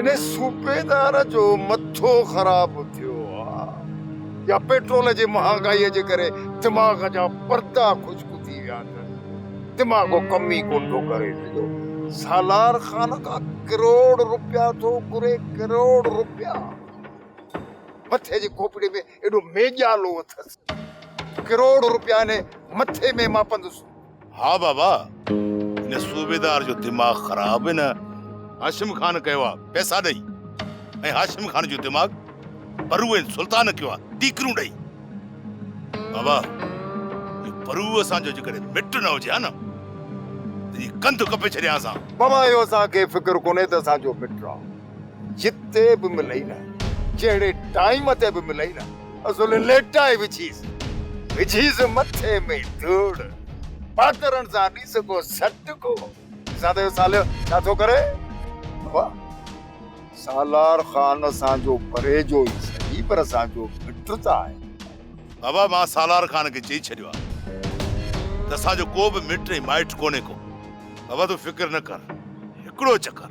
انهي صوبيدار جو مٿو خراب ٿيو آ يا پيٽرول جي مهانگائي جي ڪري دماغ جا پردا خشڪ ٿي ويا اٿس دماغ ڪم ئي ڪون ٿو ڪري سگهيو سالار خان کان ڪروڙ روپيا ٿو گهري ڪروڙ روپيا مٿي جي کوپڙي ۾ ايڏو ميڄالو اٿس. ڪروڙ روپيا ني مٿي ۾ مان پندس. ها بابا ان صوبيدار جو دماغ خراب ان هاشم خان ڪيو آ پئسا ڏئي ۽ هاشم خان جو دماغ پرو ۽ سلطان ڪيو آ ٽيڪرون ڏئي بابا اهو پرو اسان جو جيڪڏهن مٽ نه هجي ها نه تنهنجي ڪنڌ ڪپي ڇڏيان سان. بابا اهو اسان کي فڪر ڪونهي ته اسان جو مٽ آ. جتي به ملئي نه، جهڙي ٽائيم تي به ملئي نه، اصل ليٽائي وجهيس. وجهيس مٿي ۾ ڌوڙ. پاڪرن سان ڏس ڪو سٽ ڪو. ڏسان ته اهو ساليو ڇا ٿو ڪري. بابا، سالار خان اسان جو پرهيجو ئي سهي پر اسان جو مٽ ته آهي. بابا، مان سالار خان کي چئي ڇڏيو آهي ته اسان جو ڪو به مٽ ۽ مائٽ ڪونهي ڪو. بابا، تون فڪر نه ڪر. هڪڙو چڪر.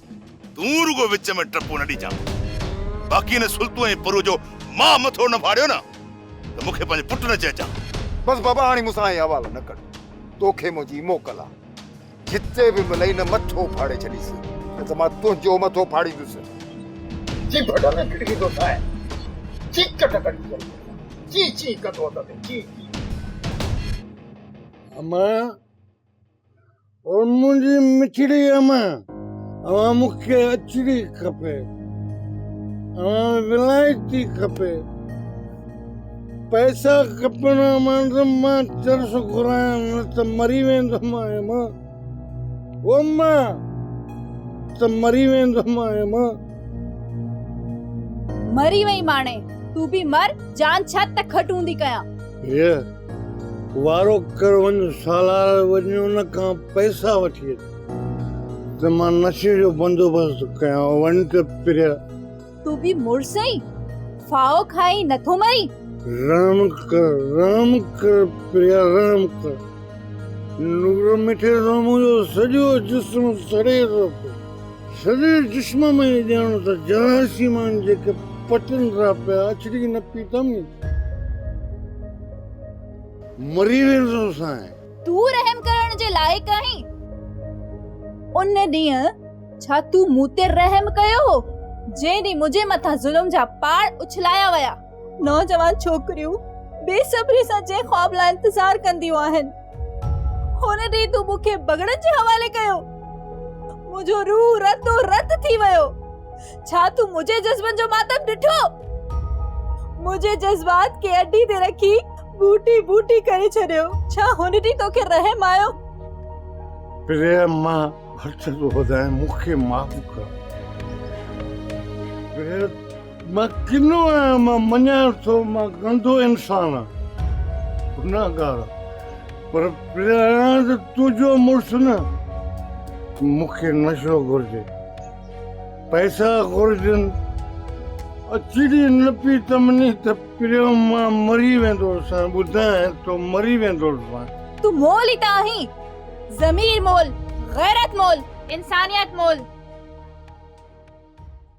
تون رڳو وچ ۾ ٽپو نه ڏجان باقي هن سلطو ۽ پرو جو مان مٿو نه ڦاڙيو نه ته مون کي پنهنجي پٽ نه چئجان. بس بابا هاڻي مون سان اهي حوالا نه ڪر توکي منهنجي موڪل آ جتي به ملئي نه مٿو ڦاڙي ڇڏيس نه ته مان تنهنجو مٿو ڦاڙيندس. جيڀ ڍڳ ڪڙهي ٿو ساهي چيڪٽ ڪري چئي ٿو چي چي ڪندو اٿس چي چي. امان او منهنجي مٺڙي امان اوهان مون کي اچري کپي اوهان ولائتي کپي پئسا کپن امان ته مان چرس گهرايان نه ته مري ويندم امان او مان ته مري ويندم امان مري وئي ماڻي تون به مر جان ڇت ته کٽ هوندي ڪيان هيء وارو ڪر وڃ سالار وڃي ان کان پئسا وٺي اچ ته مان نشي جو بندوبست ٿو ڪيان وڃ ته پريا. تون به مڙس آهين ڦاهو کائي نٿو مرين. رحم ڪر رحم ڪر پريا رحم ڪر نور مٺي سان منهنجو سڄو جسم سڙي ٿو پئي. سڄي جسم ۾ ائين ڄاڻو ته جهاز جي مان جيڪي پٽن را پيا اڇڙي نه پيتم. مري ويندو سانء. تون رحم ڪرڻ جي لائق آهين. ان ڏينهن ڇا تون مون تي رحم ڪيو هو، جنهن ڏينهن منهنجي مٿان ظلم جا پاڙ اڇلايا ويا. نوجوان ڇوڪريون بي صبري سان جنهن خواب لاء انتظار ڪنديون آهن هن ڏينهن تون مون کي بگڙن جي حوالي ڪيو منهنجو روح رتو رت ٿي ويو ڇا تون منهنجي جذبن جو ماتم ڏٺو منهنجي جذبات کي اڊي تي رکي بوٽي بوٽي ڪري ڇڏيو ڇا هن ڏينهن توکي رحم آيو پريا مان هٿ ٿو وڌايان مون کي معاف ڪر پريا مان ڪنو آهيان، مان مڃان ٿو مان گندو انسان آهيان، گناهگار آهيان، پر پريان ته تنهنجو مڙس نه، مون کي نشو گهرجي، پئسا گهرجن، اچي ڏي نه پيتم ني ته پريان مان مري ويندوسانء، ٻڌانء تو مري ويندوسانء. تون مول ئي ته آهين، ضمير مول، غيرت مول، انسانيت مول.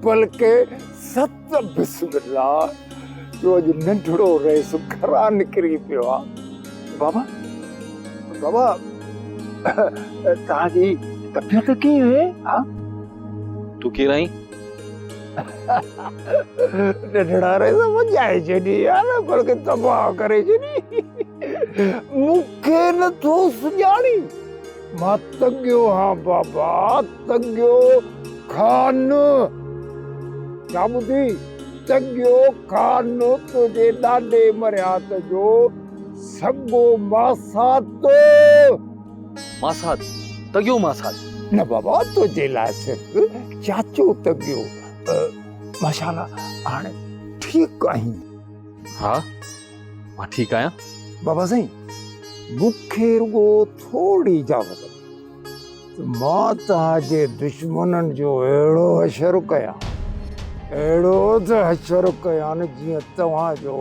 بلڪه ست بسم الله جو اڄ ننڍڙو رئيس گهران نڪري پيو آ بابا بابا توهان جي طبيعت ڪيئن آهي ها تون ڪير آهين ننڍڙا رئيس مجائي جڏي يار بلڪه تباهه ڪري جڏي مون کي نه ٿو سڃاڻي مان تڳيو هان بابا تڳيو کان. ڇا ٻڌي؟ تڳيو کان تنهنجي ڏاڏي مرهيات جو سڳو ماسات. ماسات؟ تڳيو ماسات؟ نه بابا تنهنجي لاء صرف چاچو تڳيو. ماشاءالله هاڻي ٺيڪ آهين. ها. مان ٺيڪ آهيان. بابا سائين مون کي رڳو ٿورڙي اجازت ڏيو ته مان توهان جي دشمنن جو اهڙو حشر ڪيان اهڙو ته حشر ڪيان جيئن توهان جو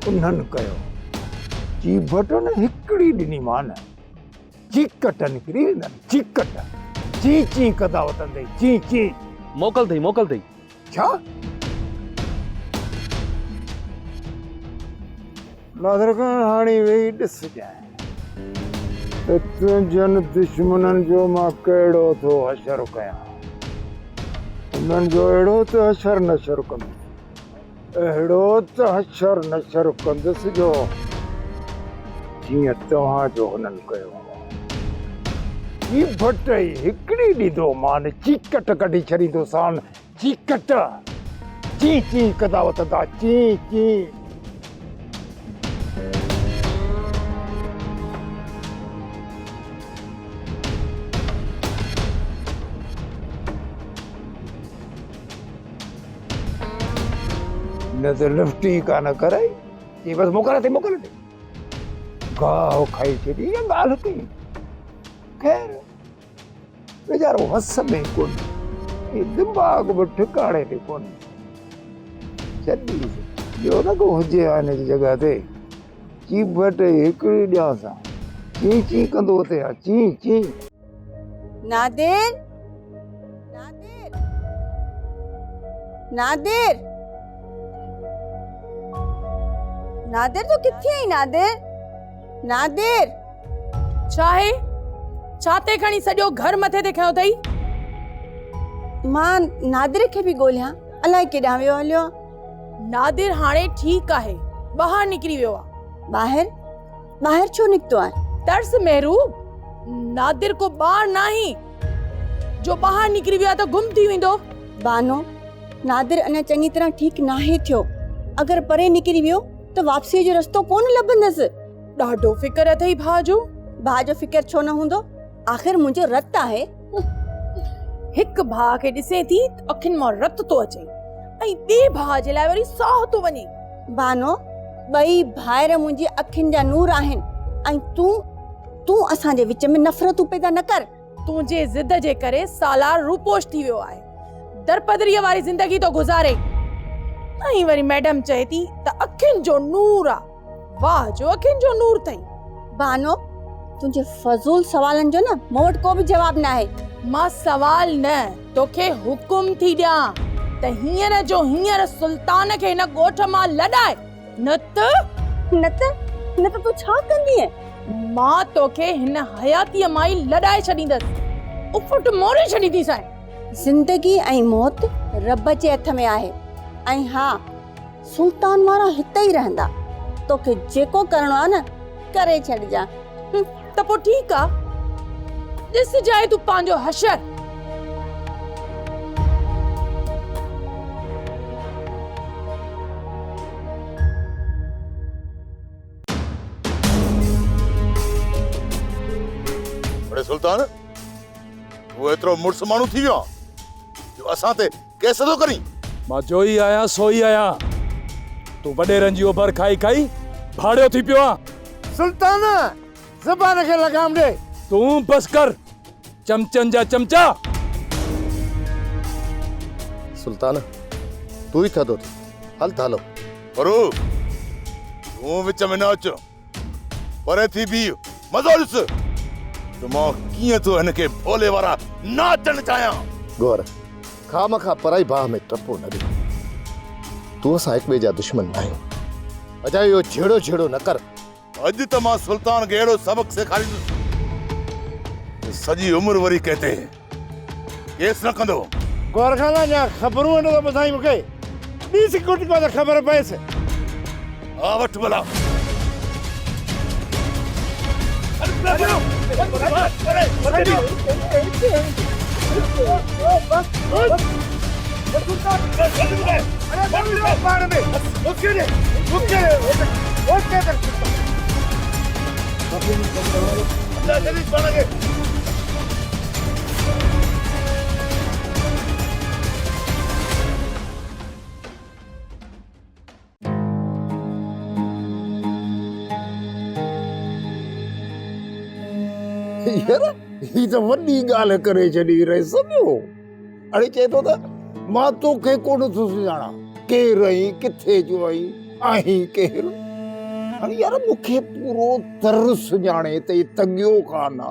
انهن ڪيو. چي ڀٽن هڪڙي ڏني مان چيڪٽ نڪري ويندن چيڪٽ چي چي ڪندا وتندي چي چي. موڪل اٿئي موڪل اٿئي ڇا؟ ناصر خان هاڻي ويهي ڏس ڄائين ته تنهنجن دشمنن جو مان ڪهڙو ٿو حشر ڪيان. انهن جو اهڙو ته حشر نشر ڪندس. اهڙو ته حشر نشر ڪندس جو جيئن توهان جو هنن ڪيو هو. هي ڀٽ ئي هڪڙي ڏيندو مان چيڪٽ ڪڍي ڇڏيندو سان چيڪٽ چي چي ڪندا وتندا چي چي. نه ته لفٽ ئي ڪانه ڪرائي چي بس موڪل اٿئي موڪل اٿئي گاهه کائي ڇڏي اها ڳالهه ڪئي خير ويچارو وس ۾ ڪونهي دماغ به ٺڪاڻي تي ڪونهي ڇڏي جو نه ڪو هجي ها هن جي جڳهه تي چيڀٽ هڪڙي ڏيانس ها چي چي ڪندو اٿئي ها چي چي نادر! نادر! نادر! نادر تون ڪٿي آهين نادر! نادر! ڇا آهي؟ ڇا تين کڻي سڄو گهر مٿي تي کنيو اٿئي؟ مان نادر کي پئي ڳوليان الائي ڪيڏانهن ويو هليو آهي. نادر هاڻي ٺيڪ آهي ٻاهر نڪري ويو آهي. ٻاهر؟ ٻاهر ڇو نڪتو آهي؟ ترس مهرو، نادر ڪو ٻار ناهي جو ٻاهر نڪري ويو آهي ته گم ٿي ويندو. بانو، نادر اڃا چڱي طرح ٺيڪ ناهي ٿيو، اگر پري نڪري ويو ته واپسيء جو رستو ڪونه لڀندس. ڏاڍو فڪر اٿئي ڀاء جو. ڀاء جو فڪر ڇو نه هوندو؟ آخر منهنجو رت آهي. هڪ ڀاء کي ڏسين ٿي ته اکين مان رت ٿو اچي ۽ ٻئي ڀاء جي لاء وري ساهه ٿو وڃي. بانو، ٻئي ڀائر منهنجي اکين جا نور آهن ۽ تون، تون اسان جي وچ ۾ نفرتون پيدا نه ڪر. تنهنجي ضد جي ڪري سالار روپوش ٿي ويو آهي. درپدريء واري زندگي ٿو گذاري. ائين وري ميڊم چئي ٿي ته اکين جو نور آ. واهه جو اکين جو نور ٿئي. بانو تنهنجي فضول سوالن جو نه مون وٽ ڪو به جواب ناهي. مان سوال نه توکي حڪم ٿي ڏيان ته هينئر جو هينئر سلطان کي هن ڳوٺ مان لڏائي نه ته. نه ته نه ته تون ڇا ڪندينء؟ مان توکي هن حياتيء مان ئي لڏائي ڇڏيندس. اڦٽ موري ڇڏينديسانء. زندگي ۽ موت رب جي هٿ ۾ آهي ۽ ها. سلطان وارا هتي ئي رهندا. توکي جيڪو ڪرڻو آهي نه ڪري ڇڏجان. ته پوء ٺيڪ آ. ڏسجانء تون پنهنجو حشر. اڙي سلطان! تون ايترو مڙس ماڻهو ٿي ويو آهين جو اسان تي ڪير سڌو ڪرين؟ مان جوئي آهيان سوئي آهيان. تون وڏيرن جي اوڀر کائي کائي ڀاڙيو ٿي پيو آن. سلطان! زبان کي لگام ڏي. تون بس ڪر چمچن جا چمچا. سلطان! تون ئي ٿڌو ٿي. هل ٿا هلون. پرو! تون وچ ۾ نه اچ. پري ٿي بيھ، مزو ڏس ته مان ڪيئن ٿو هن کي ڀولي وارا ناچڻ چاهيان. گور، خواهه مخواهه پرائي باهه ۾ ٽپو نه ڏي. تون اسان هڪٻئي جا دشمن ناهيون. اجايو اهو جهيڙو جهيڙو نه ڪر. اڄ ته مان سلطان کي اهڙو سبق سيکاريندس جو سڄي عمر وري ڪنهن تي ڪيس نه ڪندو. غور خان اڃا خبرون هنڊو ٿو ٻڌائين مون کي. ڏي سڪيورٽي ڪو ته خبر پئيس. ها وٺ ڀلا. يار هي ته وڏي ڳالهه ڪري ڇڏي رئيس ٻيو اڙي چئي ٿو ته مان توکي ڪونه ٿو سڃاڻان ڪير آهين ڪٿي جو آهين آهين ڪير اڙي يار مون کي پورو تر سڃاڻي تي تنگيو ڪانه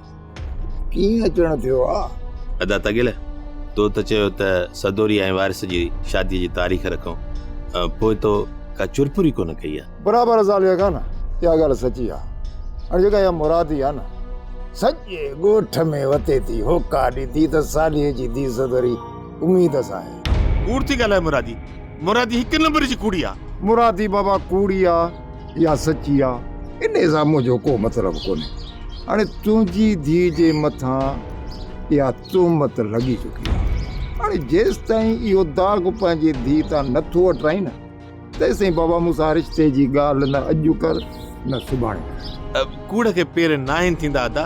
ڪيئن اچڻ ٿيو آ؟ ادا تغيل تو ته چيو ته سدوري ۽ وارث جي شادي جي تاريخ رکون پوء تو ڪا چرپر ئي ڪونه ڪئي آ. برابر زاليا خان اها ڳالهه سچي آ هاڻي جيڪا اها مرادي آ نه سڄي ڳوٺ ۾ وتي ٿي هوڪا ڏي ٿي ته صالحي جي ڌي سدوري اميد سان آهي. ڪوڙ ٿي ڳالهائي مرادي مرادي هڪ نمبر جي ڪوڙي آ. مرادي بابا ڪوڙي آ. اها سچي آ. انهي سان منهنجو ڪو مطلب ڪونهي. هاڻي تنهنجي ڌيء جي مٿان اها تهمت لڳي چڪي آ. هاڻي جيستائين اهو داغ پنهنجي ڌيء تان نه ٿو هٽائين نه، تيستائين بابا مون سان رشتي جي ڳالهه نه اڄ ڪر نه سڀاڻي ڪر. ڪوڙ کي پير ناهن ٿيندا ادا.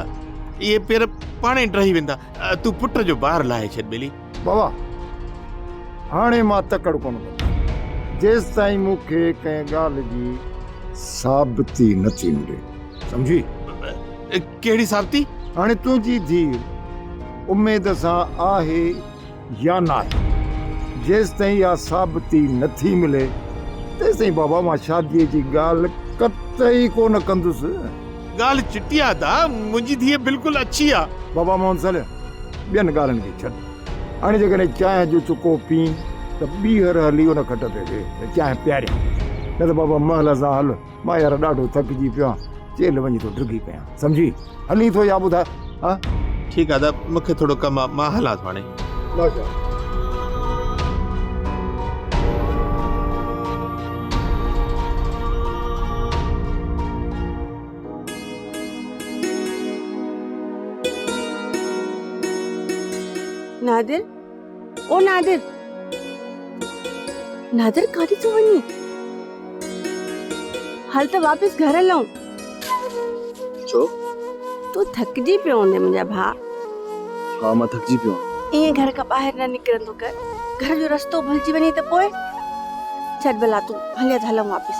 اهي پير پاڻهي ڊهي ويندا. تون پٽ جو بار لاهي ڇڏ ٻيلي. بابا هاڻي مان تڪڙ ڪونه ڪندس جيستائين مون کي ڪنهن ڳالهه جي ثابتي نه ٿي ملي سمجهي؟ ڪهڙي ثابتي؟ هاڻي تنهنجي ڌيء اميد سان آهي يا ناهي جيستائين اها ثابتي نه ٿي ملي تيستائين بابا مان شاديء جي ڳالهه قطعي ڪونه ڪندس. ڳالهه چٽي آ ادا، منهنجي ڌيء بلڪل اڇي آ. بابا موهن سليم، ٻين ڳالهين کي ڇڏ، هاڻي جيڪڏهن چانهه جو چڪو پين ته ٻيهر هلي ان کٽ تي ويهه ته چانهه پياريان، نه ته بابا محل سان هل، مان يار ڏاڍو ٿڪجي پيو آهيان، چيلهه وڃي ٿو ڊگهي ڪيان، سمجهي هلين ٿو يا ٻڌاء؟ ها ٺيڪ آ ادا مون کي ٿورو ڪم آ مان هلان ٿو هاڻي ماشاءالله نادر او نادر! نادر ڪاڏي ٿو وڃين؟ هل ته واپس گهر هلون. ڇو؟ تون ٿڪجي پيو هوندين منهنجا ڀاء. ها مان ٿڪجي پيو آهيان. ائين گهر کان ٻاهر نه نڪرندو ڪر. گهر جو رستو ڀلجي وڃي ته پوء؟ ڇڏ ڀلا تون هلين ته هلون واپس.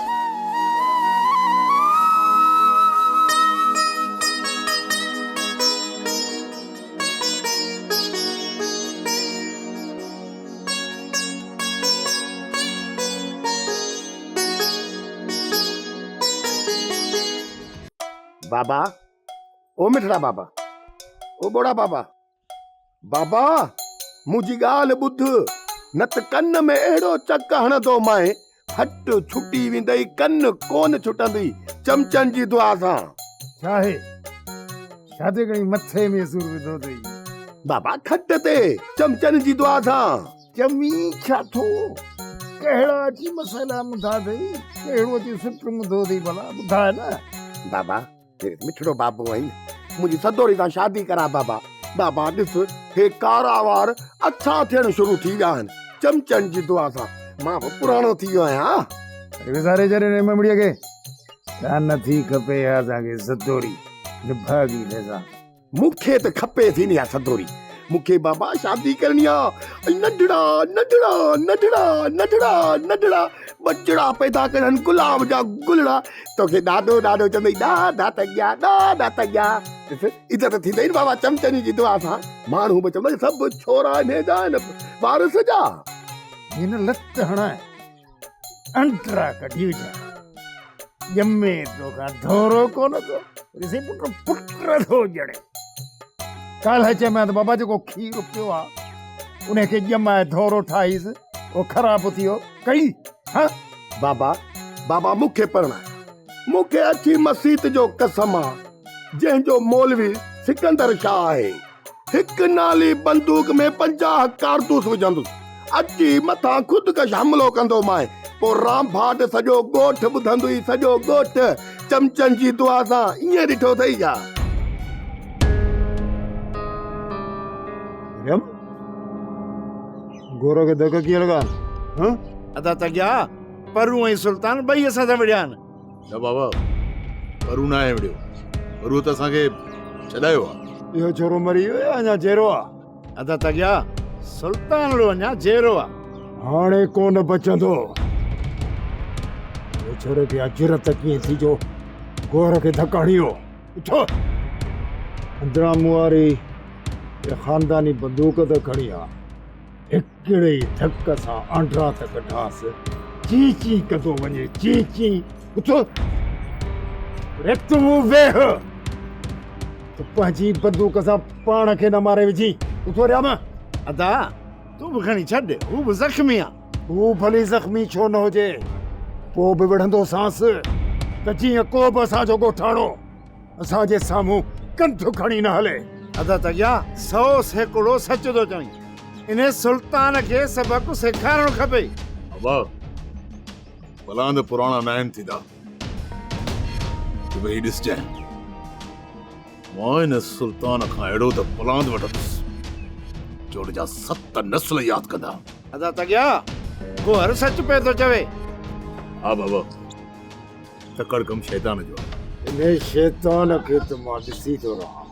بابا او مٺڙا بابا او ٻوڙا بابا بابا منهنجي ڳالهه ٻڌ نه ته ڪن ۾ اهڙو چڪ هڻندومانء کٽ ڇٽي ويندئي ڪن ڪون ڇٽندي چمچن جي دعا سان ڇاهي شادي کڻي مٿي ۾ سور وڌو اٿئي بابا کٽ تي چمچن جي دعا سان چمي ڇا ٿو ڪهڙا اچي مسئلا مٿا اٿئي ڪهڙو اچي سٽ مٿو اٿئي ڀلا ٻڌاء نه بابا مٺڙو بابو آهين منهنجي سدوري سان شادي ڪرا بابا. بابا ڏس هي ڪارا وار اڇا ٿيڻ شروع ٿي ويا آهن چمچن جي دعا سان مان به پراڻو ٿي ويو آهيان. وساري ڇڏ هن امٻڙي کي. ڪا نٿي کپي اها اسان کي سدوري نڀاڳي ڏسان. مون کي ته کپي ٿي نه اها سڌوري. مون کي بابا شادي ڪرڻي آ ۽ ننڍڙا ننڍڙا ننڍڙا ننڍڙا ننڍڙا ٻچڙا پيدا ڪرڻ گلاب جا گلڙا توکي ڏاڏو ڏاڏو چوندي ڏاڍا ته ڄا ڏاڍا ته ڄا ڏس عزت ٿيندئي نه بابا چمچني جي دعا سان ماڻهو به چوندو سڀ ڇورا انهي جا آهن وارث جا هن لت هڻائي انٽرا ڪڍي وجهان ڄمي توکان ڌورو ڪونه ٿو ڏسي پٽ پٽ ٿو ڄڻي ڪالهه چيمانس ته بابا جيڪو کير پيو آهي ان کي ڄمائي ڌورو ٺاهيس اهو خراب ٿي ويو ڪئي ها بابا بابا مون کي پرڻاء مون کي اڇي مسيت جو قسم آهي جنهن جو مولوي سڪندر شاهه آهي هڪ نالي بندوق ۾ پنجاهه ڪارتوس وجهندس، اچي مٿان خودڪش حملو ڪندومانء، پوء رامڀاٽ سڄو ڳوٺ ٻڌندئي، سڄو ڳوٺ چمچن جي دعا سان ائين ڏٺو اٿئي ڇا؟ مريم، گورو کي ڌڪ ڪيئن لڳا؟ ادا تڳيا، پرون ۽ سلطان ٻئي اسان سان وڙهيا آهن. نه بابا پرو ناهي وڙهيو پرو ته اسان کي ڇڏايو آ اهو ڇورو مري ويو يا اڃا جيرو آ ادا تگيا سلطان اڙو اڃا جيرو آ هاڻي ڪونه بچندو ويچاري کي اجرت ڪيئن ٿي جو گور کي ڌڪ هڻيو اٿو اندران مون واري خانداني بندوق ته کڻي آ ڪهڙي ڌڪ سان آنڊرا ٿا ڪڍانس. چين چين ڪندو وڃي چين چين. اٿ ريت مون ويهه ته پنهنجي بندوق سان پاڻ کي نه ماري وجهي. اٿ ريام. ادا تون به کڻي ڇڏ هو به زخمي آ. هو ڀلي زخمي ڇو نه هجي پوء به وڙهندوسانس ته جيئن ڪو به اسان جو ڳوٺاڻو. اسان جي سامهون ڪنڌ کڻي نه هلي. ادا تگيا سو سيڪڙو سچ ٿو چوين. انهي سلطان کي سبق سيکارڻ کپي. ابا ڀلا ته پراڻا ناهن ٿيندا ته ويهي ڏسجانء. مان ان سلطان کان اهڙو ته پلاند وٺندس جو ان جا ست نسل ياد ڪندا. ادا تگيا گوهر سچ پئي ٿو چوي. ها بابا. تڪڙ ڪم شيطان جو آهي. انهيء شيطان کي ته مان ڏسي ٿو رهان.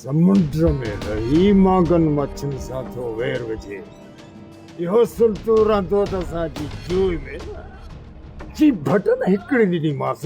سمنڊ ۾ رهي مانگن مڇين سان ٿو وير وجهي. اهو سلٽو رهندو ته اسان جي جوء ۾ نه. چي ڀٽن هڪڙي ڏني مانس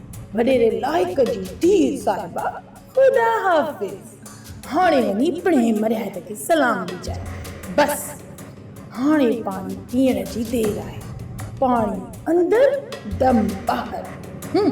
وڏيري لائق جي ڌيء صاحبه خدا حافظ هاڻي وڃي پڻهين مرهٽ کي سلام ڏجانء بس هاڻي پاڻي پيئڻ جي دير آهي پاڻي اندر دم ٻاهر هم.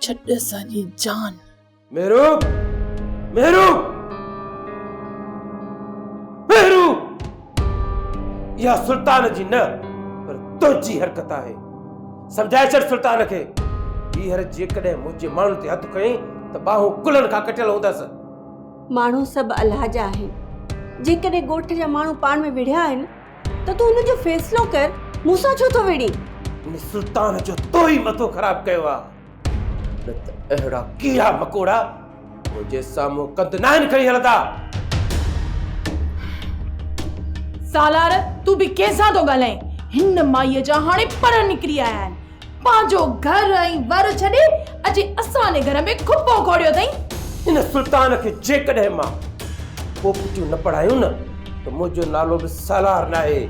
ڇڏ اسانجي جان. مهرو! مهرو! مهرو! اها سلطان جي نه پر تنهنجي حرڪت آهي. سمجهائي ڇڏ سلطان کي. ٻيهر جيڪڏهن منهنجي ماڻهن تي هٿ کنئي ته ٻانهون ڪلهن کان ڪٽيل هوندس. ماڻهو سڀ الله جا آهن. جيڪڏهن ڳوٺ جا ماڻهو پاڻ ۾ وڙهيا آهن. ته تون ان جو فيصلو ڪر، مون سان ڇو ٿو وڙهين؟ ان سلطان جو تو ئي مٿو خراب ڪيو آ، نه ته اهڙا ڪيڙا مڪوڙا منهنجي سامهون ڪنڌ ناهن کڻي هلندا. سالار تون به ڪنهن سان ٿو ڳالهائين، هن مائيء جا هاڻي پر نڪري آيا آهن. پنهنجو گهر ۽ ور ڇڏي اچي اسان جي گهر ۾ کپو کوڙيو اٿئي. ان سلطان کي جيڪڏهن مان پوپٽيون نه پڙهايون نه ته منهنجو نالو به سالار ناهي.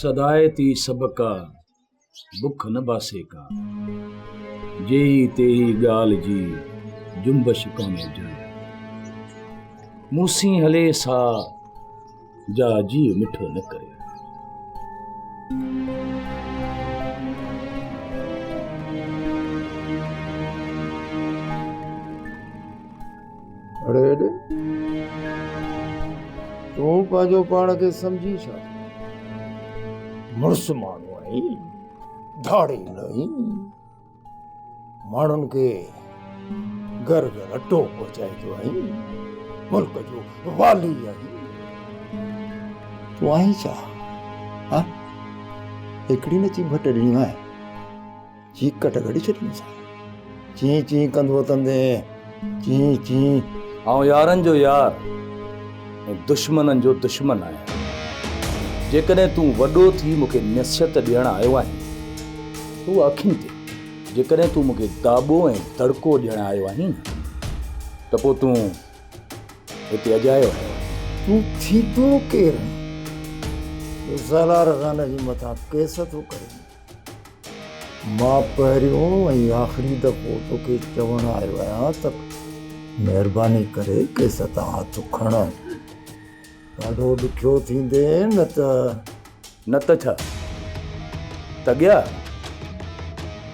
سدائي تي سڀ ڪا، بک نه باسي ڪا. جيهي تيهي ڳالهه جي، جنبش ڪانهي جاء. مون سين هلي سا. جا جيء مٺو نه ڪري. اڙي اڙي تون پنهنجو پاڻ کي سمجهي ڇا ٿو مڙس ماڻهو آهين ڌاڙيل آهين. ماڻهن کي گرد رٽو پهچائيندو آهين، ملڪ جو والي آهين، تون آهين ڇا؟ ها هڪڙي نه چي ڀٽ ڏنيون آهن، چي ڪٽ ڪڍي ڇڏيون سان چي چي ڪندو تندي چين چين آئون يارن جو يار ۽ دشمنن جو دشمن آهيان. جيڪڏهن تون وڏو ٿي مون کي نصيحت ڏيڻ آيو آهين ته اها اکين تي جيڪڏهن تون مون کي داٻو ۽ دڙڪو ڏيڻ آيو آهين نه ته پوء تون هتي اجايو آيو آهين. تون ٿيندو ڪير آهين جو زالار خان جي مٿان ڪيس ٿو ڪرين. مان پهريون ۽ آخري دفعو توکي چوڻ آيو آهيان ته مهرباني ڪري ڪيس تان هٿ کڻ. ڏاڍو ڏکيو ٿيندين نه ته. نه ته ڇا؟ تڳيا!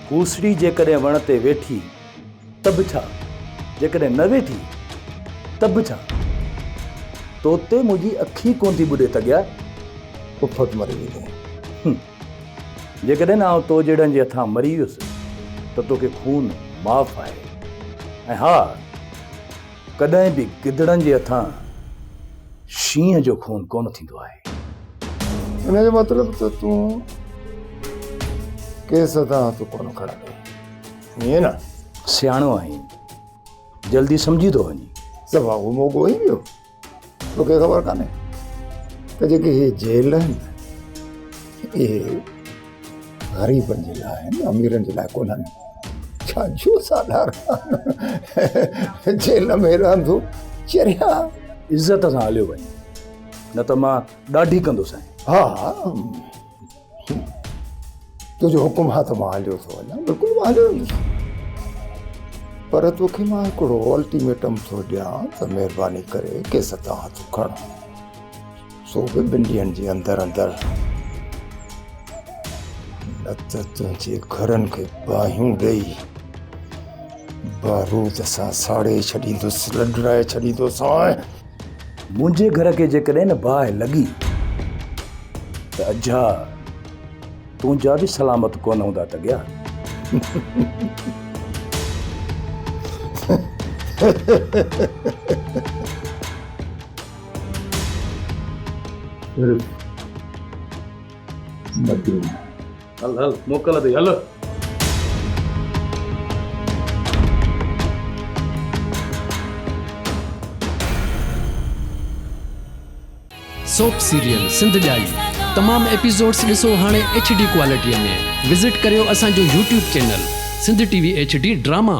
کوسڙي جيڪڏهن وڻ تي ويٺي ته به ڇا؟ جيڪڏهن نه ويٺي ته به ڇا؟ تو تي منهنجي اک ئي ڪونه ٿي ٻڏي تڳيا! افت مري ويندين. جيڪڏهن آئون تو جهڙن جي هٿان مري ويس ته توکي خون معاف آهي ۽ ها ڪڏهن به گدڙن جي هٿان شينهن جو خون ڪونه ٿيندو آهي. ان جو مطلب ته تون ڪيس هٿان هٿ ڪونه کڻندو ائين نه؟ سياڻو آهين جلدي سمجهي ٿو وڃين. سڀ وانگو موڳو هئين ٻيو. توکي خبر ڪانهي ته جيڪي هي جيل آهن اهي غريبن جي لاء آهن اميرن جي لاء ڪونهن ڇا جو ساڌارن جيل ۾ رهندو چريا عزت سان هليو وڃ نه ته مان ڏاڍي ڪندو سائين ها ها تنهنجو حڪم آ ته مان هليو ٿو وڃان بلڪل مان هليو ويندس پر توکي مان هڪڙو الٽيميٽم ٿو ڏيان ته مهرباني ڪري ڪيس تان هٿ کڻ سو به ٻن ڏينهن جي اندر اندر نه ته تنهنجي گهرن کي باهيون ڏيئي بارود سان ساڙي ڇڏيندس لڏرائي ڇڏيندوسانء منهنجي گهر کي جيڪڏهن نه باهه لڳي ته اجها تنهنجا به سلامت ڪونه هوندا تڳيا. مديني هل هل موڪل اٿئي هل سوپ سيريل سنڌ ڄائي تمام ايپيسوڊس ڏسو هاڻي ايڇ ڊي ڪوالٽي ۾ وزٽ ڪريو اسان جو YouTube channel Sindh T V H D drama.